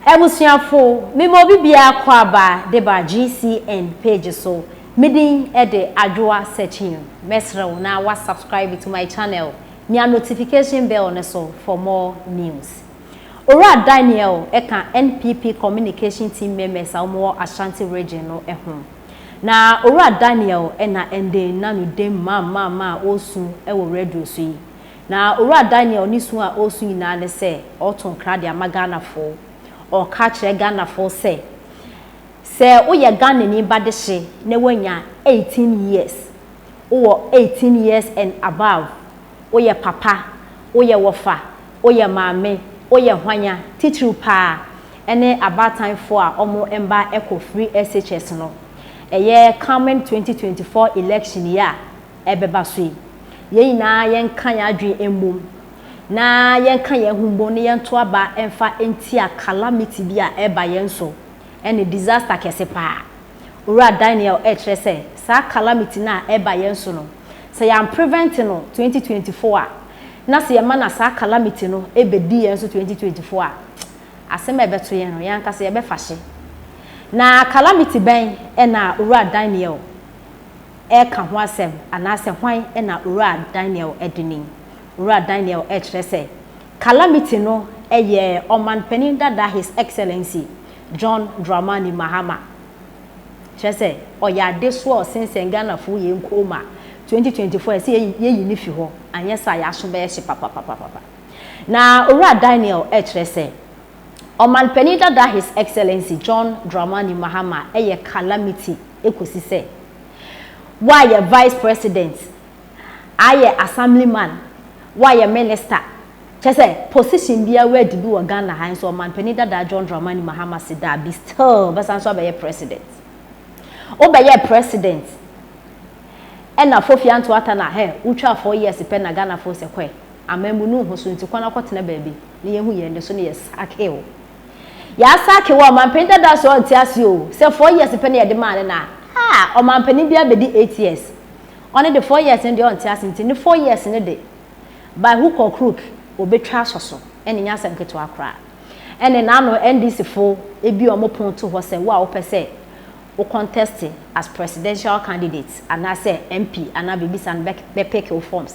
Abusuafo, me ma obi biara kɔ aba de ba GCN page so, me din de Adwoa Sekyim. Mɛsrɛ wo na wa subscribe to my channel, mia notification bell no so for more news. Owura Daniel ka NPP communication team members a wɔn wɔ Ashanti region no ho. Na Owura Daniel na ɛnde na no dem maa maa maa ɔresu wɔ radio so yi. Na Owura Daniel ne su a ɔresu nyinaa ne sɛ ɔreto nkra de ama Ghanafoɔ. Ɔreka akyerɛ Ghanafoɔ sɛ, sɛ woyɛ Ghanani ba dehye na woanya eighteen years, wowɔ eighteen years and above, woyɛ papa, woyɛ wɔfa, woyɛ maame, woyɛ hwanya, titiriw pa ara ne abaatanfoɔ a wɔn mma kɔ free SHS no, ɛyɛ coming twenty twenty four election yi a, ɛbɛba so yi. Yɛn nyinaa yɛnka yɛn adwene mmom na yɛnka yɛn ho mmom na yɛnto aba mfa ntia calamity bi a ɛreba yɛn so. Ɛne disaster kɛse paa. Owura Daniel rekyerɛ sɛ saa calamity no a ɛreba yɛn so no, sɛ yɛamprevent no 2024 a, na sɛ yɛma na saa calamity no bɛdi yɛn so 2024 a, asɛm a ɛbɛto yɛn no, yɛn ankasa yɛbɛfa hye. Na calamity bɛn na Owura Daniel reka ho asɛm, anaasɛ hwan na Owura Daniel de ni? Owura Daniel rekyerɛ sɛ Calamity no yɛ Ɔmanpanin dada His Excellency John Dramani Mahama. Kyerɛ sɛ ɔyɛ adesoa a ɔsensɛn Ghanafoɔ yei nkoom a 2024 a ɛsɛ yɛyi no fi hɔ, anyɛ saa a yɛaso bɛyɛ hye papapapapa. Na Owura Daniel rekyerɛ sɛ Ɔmanpanin dada His Excellency John Dramani Mahama yɛ calamity kɔsi sɛ wayɛ Vice President, ayɛ Assemblyman, wayɛ Minister, kyerɛ sɛ position biara wadi bi wɔ Ghana ha nso Ɔmanpanin dada John Dramani Mahama se daabi still ɔbɛsan nso abɛyɛ President. Wobɛyɛɛ President ɛna Fofia Ntoatana hɛ wotwaa four years pɛ na Ghanafoɔ sɛ kɔɛ. amammu no ho so nti kwan akɔtena baabi na yɛahu yɛn de so ne yɛ sakew. Yɛa sakew a ɔmanpanin dadaa so a ɔnte aseɛ o sɛ four years pɛ na yɛde maa no na ah ɔmanpanin bi abɛdi eight years ɔno de four years no deɛ ɔnte ase nti ne four years no de by hook or crook ɔbɛtwa asɔ so ɛne nyɛ asɛm ketewa koraa ɛne na ano NDC fo ebi ɔmo pon to hɔ sɛ wo a wopɛ sɛ wo contest as presidential candidate anaa sɛ MP anaa biribi saa no bɛ bɛ pick wo forms.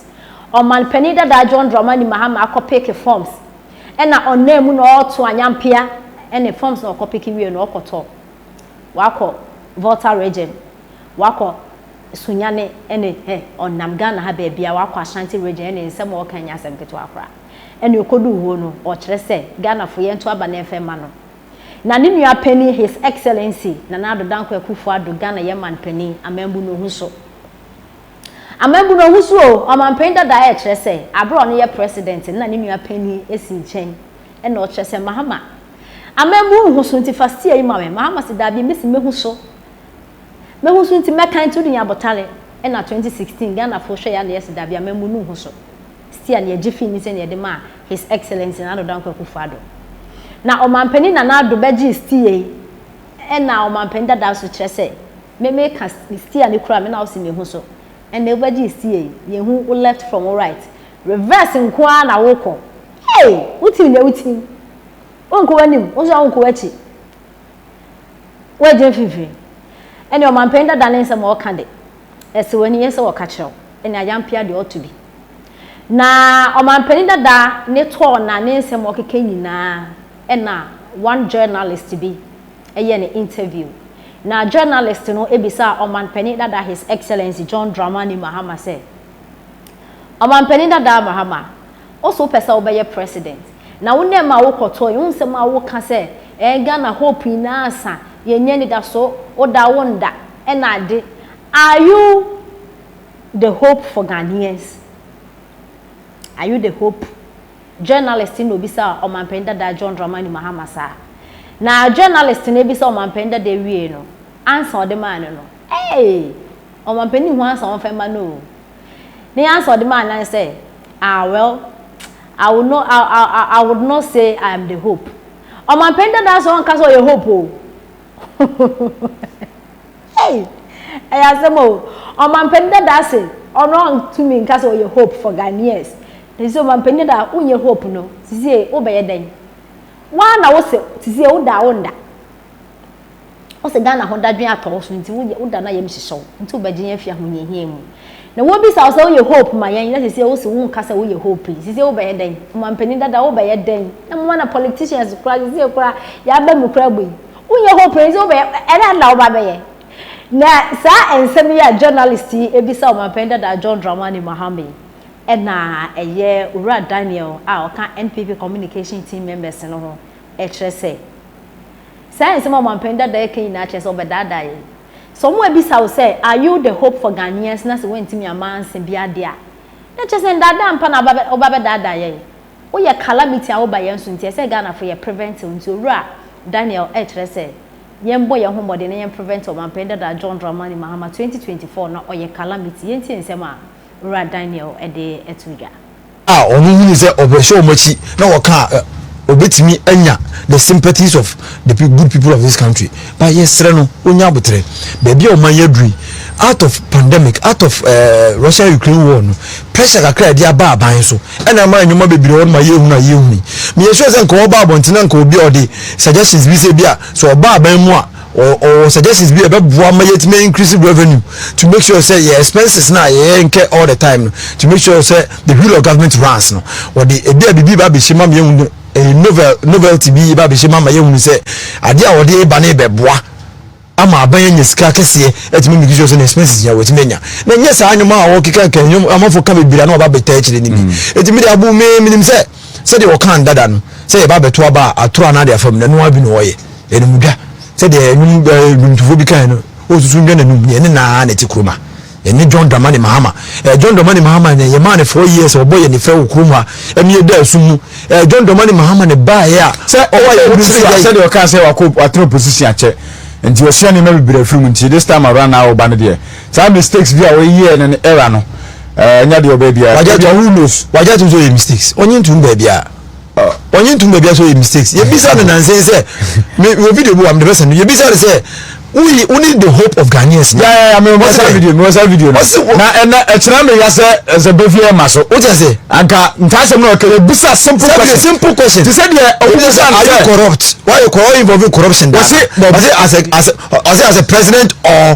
Ɔman panin dadaa John Dramani Mahama akɔ pick forms ɛna ɔnam mu na ɔɔto anyampea ɛne forms na ɔkɔ pick wie no ɔkɔ tɔ wakɔ Volta region wakɔ Sunyani ɛne hɛ ɔnam Ghana ha baabia wakɔ Ashanti region ɛne nsɛm ɔɔka nyɛ asɛm ketewa koraa ɛne ɔkɔduu hoo no ɔɔkyerɛ sɛ Ghana fo yɛnto aba na ɛmfɛ mma no Na ne nua panin His Excellency Nana Addo Dankwa Akufo Addo Ghana yɛ man panin, amambu no ho so. Amambu no ho so o, ɔmanpanin dada a ɛkyerɛ sɛ aberɛ a ɔno yɛ president no na ne nua panin si nkyɛn ɛna ɔkyerɛ sɛ Mahama amambu wo ho so nti fa steer yi ma me, Mahama se daabi me se mɛhu so, mɛhu so nti mɛka nti wode nya abotare ɛna 2016 Ghanafoɔ hwɛɛ ya na yɛse daabi amambu no ho so. Sia no yɛgye fii ne sɛ na yɛde maa His Excellency Nana Addo Dankwa Akufo Addo. Na Ɔmanpanin Nana Addo bɛgyee Sia yi ɛna Ɔmanpanin dadaa so kyerɛ sɛ me meka Sia no kura me na wosi me ho so ɛnɛ wobɛgyee Sia yi yɛnhu wo left from wo right reverse nko ara na wokɔ hey wotim nea wotim wonkɔ w'anim wo nso wonkɔ w'akyi woagyina mfimfini ɛne Ɔmanpanin dada ne nsɛm a ɔka de Ɛsɛ w'ani yɛ sɛ wɔka kyerɛ wo ɛne ayampea deɛ ɔto bi. Na ɔmanpanin dada ne tɔɔ na ne nsɛm ɔkeka nyinaa ɛna one journalist bi ɛyɛ no interview. Na journalist no ɛbisaa ɔmanpanin dada his excellency John Dramani Mahama sɛ, Ɔmanpanin dada Mahama, Wo so wopɛ sɛ wo bɛyɛ president na wo nɛ ma wo kɔ tɔɔ yi wo nsɛm a wo ka sɛ ɛɛ Ghana hope nyinaa asa yɛ nya anidaso wo da wo nda ɛna ade are you the hope for Ghanaians are you the hope journalist na obisa ɔmanpanin dada John Dramani Mahama saa na journalist na bisa ɔmanpanin dada wiee no ansa ɔde maa no no eii ɔmanpanin hu ansa wɔn fɛ ma no oo. Ne answer a ɔde maa no ne sɛ, Ah, well, I would not, I, I, I, I would not say I am the hope. Ɔmampanin dadaa sɛ ɔnka sɛ ɔyɛ hope o. hey! Ɛyɛ asɛm o. Ɔmampanin dadaa se ɔno ɔntumi nka sɛ ɔyɛ hope for Ghanaians. Ɛsɛ sɛ ɔmampanin dadaa wonyɛ hope no, sisie wobɛyɛ dɛn? Waa na wo se sisie woda a wonda. Wo se Ghana ho dadwen atɔ wo so nti wo yɛ wo da no ayɛ mehyehyɛ wo nti wo bɛgye yɛn afi ahohiahia mu. Na wo bisa wo sɛ wo yɛ hope ma yɛn na sese wo se wo nka sɛ wo yɛ hope yi sese wo bɛyɛ dɛn omanpanin dada wo bɛyɛ dɛn na moma na politicians kura sese kura yɛ aba mu kura bu yi wo nyɛ hope yi sese wo bɛyɛ ɛdɛn na wo ba bɛyɛ na saa nsɛm yi a journalist yi ebisa omanpanin dada John Dramani Mahama yi ɛna ɛyɛ owura Daniel a ɔka NPP communication team members no ho ɛkyerɛ sɛ Saa nsɛm a ɔmampanin dada reka nyinaa kyerɛ sɛ ɔbɛdaadaa yɛn. Sɛ wɔabisa wo sɛ, Are you the hope for Ghanaians? na sɛ woantumi amma ansa biara de a, na kyerɛ sɛ nnaadaa mpa na woba bɛdaadaa yɛn. Woyɛ calamity a woba yɛn so nti, ɛsɛ sɛ Ghanafo yɛ preventive. Nti Owura Daniel rekyerɛ sɛ yɛmmɔ yɛn ho mmɔden na yɛn prevent ɔmampanin dada John Dramani Mahama, 2024 na ɔyɛ calamity. Yɛntie nsɛm a. Owura Daniel de to dwa. a wɔhunuu sɛ ɔbɛhwɛ wɔn akyi na wɔka a obetumi anya the sympathies of the good people of this country ba yɛsrɛ no onya abotrɛ baabi a ɔman yɛ aduru out of pandemic out of uh, eh, Russia Ukraine war no pressure kakra ɛde aba aban so ɛna ama nneɛma bebree wɔn ma yɛ ehunu a yɛ ehunu meyɛ sure sɛ nka ɔba abɔnten na nka obi a ɔde suggestions bi sɛ bi a sɛ ɔba aban mu a ɔwɔ suggestions bi a ɛbɛboa ma yɛtumi increase revenue to make sure sɛ yɛ expenses na yɛyɛ nkɛ all the time no to make sure sɛ the wheel of government runs no wɔde ebi a biribi ba abɛhyɛ ma yɛhu no eh, novel novelty bi ba abɛhyɛ ma ma yɛhunu sɛ adeɛ a wɔde ba no bɛboa ama aban anya sika kɛseɛ atumi make sure sɛ ne expenses nyina wɔtumi anya na nyɛ saa nnwom a wɔkeka ka nnwom amafo ka bebree a na wɔba bɛtaa akyire no bi ɛtumi mm. de abo me menim sɛ Sɛdeɛ wɔkaa no dada no, sɛ yɛba abɛto aba a, atorɔ anaa deɛ afam no, ɛno ara bi na wɔyɛ. Ɛyɛ no mu dwa. Sɛdeɛ nnwom eh, nnwomtofoɔ bi kaeɛ no, ɔresusu nnwa n'anum, neɛ ne nna ara na ɛte kurom ha. Ɛnyɛ John Dramani Mahama. Eh, John Dramani Mahama na yɛmaa no four years, ɔbɔ yɛn fɛ wɔ kurom ha, ɛno yɛdaa sum mu. Eh, John Dramani Mahama na ɛbaeɛ a, Sɛ ɔwɔ ayɛ ɔwɔ bi nso kyerɛ yɛ. sɛdeɛ ɔkaa sɛ wakɔ watena opposition akyɛ nti wasua nneɛma bebree afiri mu nti this time around na ɔba no deɛ saa mistakes bi a ɔyɛɛ no no era no ɛɛ nya deɛ ɔbɛ bia. wagya to who knows wagya to so yɛ mistakes ɔnye ntum baabi a ɔnye ntum baabi a so yɛ mistakes yɛbisa no nansen sɛ me wɔ video bi wɔ am de bɛsɛn no yɛbisa no sɛ woyi wo ne the hope of ghanaians na yɛyɛ mi wɔ saa video mi wɔ saa video no na ɛnɛ ɛkyerɛ mi ya sɛ ɛsɛ bɛfi yɛ ma so o jɛ sɛ anka ntaasɛm na ɔkɛ yɛbisa simple question simple question ti sɛ deɛ ɔwɔ mu sɛ are you corrupt why you corrupt involving corruption data ɔsɛ as a as a ɔsɛ as a president or.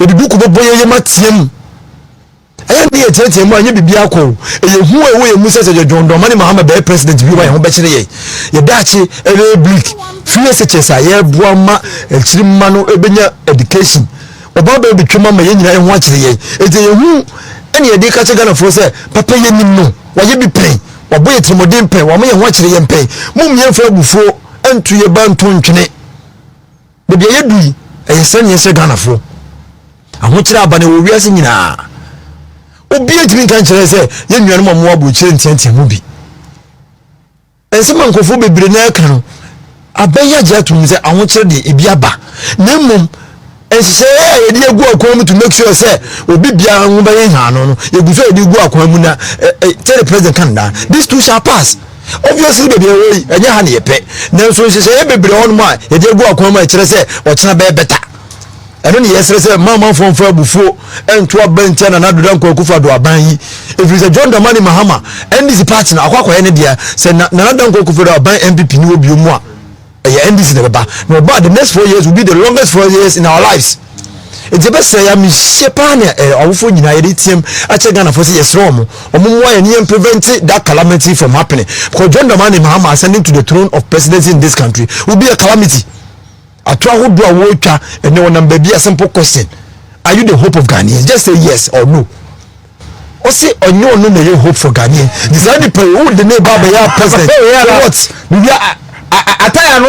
Yɛde duku bɛbɔ yɛn yam ateam. Ɛyɛ ne yɛ teatea mu a nyɛ biribi akɔ o. Ɛyɛ hu a ɛwɔ yɛn mu sɛ sɛ John Dramani Mahama bɛyɛ president bi wa yɛn ho bɛkyerɛ yɛn. Yɛ daakye ɛbɛyɛ bleak. Fear such a yɛboa ma akyiri mma no ɛbɛnya education. Ɔbaa bɛyɛ bɛtwam ama yɛn nyinaa ɛho akyerɛ yɛn. Ɛti ɛyɛ hu ɛne yɛde ka kyerɛ Ghanafoɔ sɛ papa yɛ nim no wayɛ bi pɛn. Wabɔ yɛ tirimɔden pɛn. Wama yɛn ho akyerɛ yɛn pɛn. Mom yɛmfa abufuo nto yɛ ba nto ntwene. Baabi a yɛdu yi, ɛyɛ sɛ neɛ sɛ Ghanafoɔ. Ahokyerɛ aba na ɛwɔ wiase nyinaa. Obiara ntumi nka nkyerɛ sɛ yɛn nuanom a wɔwɔ aburokyire nteatea mu bi. Nsɛm a nkurɔfoɔ bebree na ɛka no, abɛyɛ agye atom sɛ ahokyerɛ deɛ ebi aba. Na mmom, nhyehyɛeɛ a yɛde agu akwan mu to make sure sɛ obi biara ho bɛyɛ nhaano no, yɛgu so a yɛde gu akwan mu na eh, eh, tell the president kan daa, this too shall pass. Obviously baabi a yɛwɔ yi, ɛnyɛ ha na yɛpɛ. Nanso nhyehyɛeɛ bebree hɔnom a yɛde agu akwan mu a ɛkyerɛ sɛ ɔkyena bɛyɛ bɛta. Ɛno na yɛsrɛ sɛ mma amanfoɔ mfa abufuo nto aban ntia Nana Ado Dankwa Akufo-Addo aban yi. Ɛfiri sɛ John Dramani Mahama, NDC party no, akɔ akɔyɛ ne deɛ. Sɛ Nana Dankwa Akufo-Addo aban, NPP, no wɔ bio mu a, ɛyɛ ndc na ɛbɛba na ɔba the next four years will be the longest four years in our lives nti ɛbɛsɛ ya mehyɛ paa ne eh, awofoɔ nyinaa yɛde team akyɛ ghanafoɔ sɛ yɛserɛ ɔmo ɔmo mmoa yɛne yɛn prevent that calamity from happening because john dramani mahama ascending to the throne of presidency in this country will be a calamity ato ahodoɔ a wɔretwa ɛnɛ wɔnam baabi a simple question are you the hope of ghanaians just say yes or no Ɔse ɔnyɛ ɔno na ɛyɛ hopeful Ghanaian nti saa nipa yi wode ne ba bɛyɛ president for what? Biribi a ataya no.